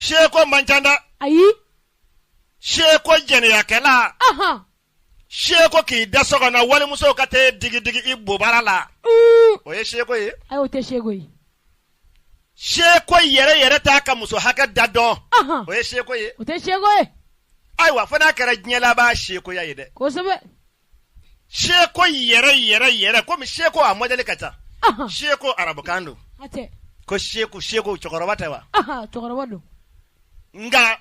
seko man ca dɛ ayi seko jɛnɛyakɛla ahan seko k'i da so kɔnɔ walimuso ka t'e digidigi i bobara la mm. o ye seko ye ayi o tɛ seko ye seko yɛrɛ yɛrɛ t'a ka muso hakɛ da dɔn ahan o ye seko ye o tɛ seko ye ayiwa fo n'a kɛra diɲɛ laban sekoya ye dɛ kosɛbɛ seko yɛrɛ yɛrɛ yɛrɛ komi seko a mɔdɛli ka ca seko arabukan don ko seko seko cɛkɔrɔba tɛ wa nka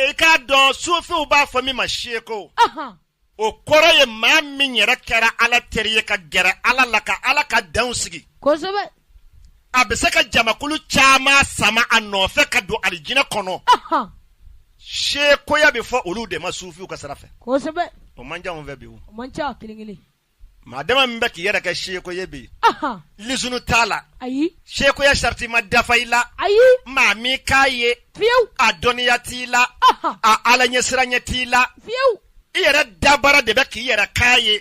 i k'a dɔn sufinw b'a fɔ min ma seko o kɔrɔ ye maa min yɛrɛ kɛra ala teri ye ka gɛrɛ ala la ka ala ka danw sigi a bɛ se ka jamakulu caman sama a nɔfɛ ka don alijinɛ kɔnɔ sekoya bɛ fɔ olu de ma sufinw ka sira fɛ kosɛbɛ o man ca anw fɛ bi o man ca kelen kelen maa dama min bɛ k'i yɛrɛ kɛ seko ye bi lisunu t'a la ayi sekoya sariti ma dafa i la ayi maa min k'a ye fiyewu a dɔnniya t'i la a ala ɲɛsiranya t'i la fiyewu i yɛrɛ dabara de bɛ k'i yɛrɛ k'a ye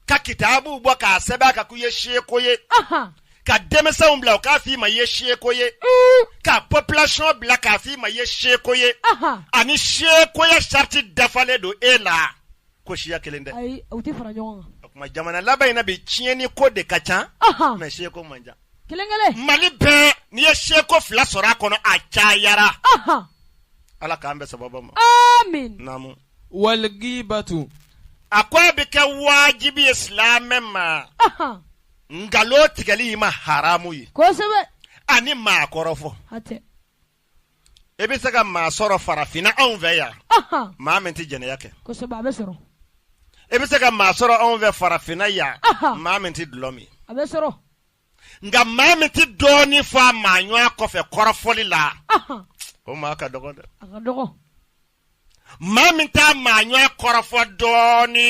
ka kitabu bɔ k'a sɛbɛn a kan ko i ye seko ye ka denmisɛnw bila u k'a f'i ma i ye seko ye mm. ka population bila k'a f'i ma i ye seko ye ani sekoya sariti dafalen don e la ko siya kelen dɛ o tuma jamana laban in na bi tiɲɛni ko de ka ca mɛ seko man ca mali bɛɛ n'i ye seko fila sɔrɔ a kɔnɔ a cayara ala k'an bɛn sababu ma walgibatu a ko a bɛ kɛ wajibi ye silamɛ ma nkalon tigɛli y'i ma haramu ye ani maa kɔrɔfɔ e bɛ se ka maa sɔrɔ farafinna anw fɛ yan maa min tɛ jɛnɛya kɛ e bɛ se ka maa sɔrɔ anw fɛ farafinna yan maa min tɛ dulɔ min nka maa min tɛ dɔɔnin fɔ a maa ɲɔgɔn kɔfɛ kɔrɔfɔli la o maa ka dɔgɔ dɛ maa min t'a maa ɲɔa kɔrɔfɔ dɔɔni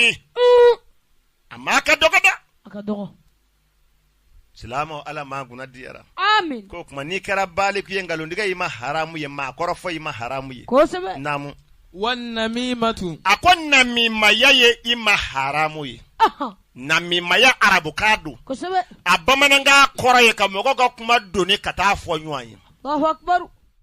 a maa ka dɔgɔ dɛ a ka dɔgɔ silamɛ ala maa kunna diyara ko tuma n'i kɛra baliku ye nkalontigɛ i ma haramu ye maa kɔrɔfɔ i ma haramu ye naamu wannamimatu a ko namimaya ye i ma haramu ye namimaya arabukan don a bamanankan kɔrɔ ye ka mɔgɔ ka kuma doni ka taa fɔ ɲɔgɔn ye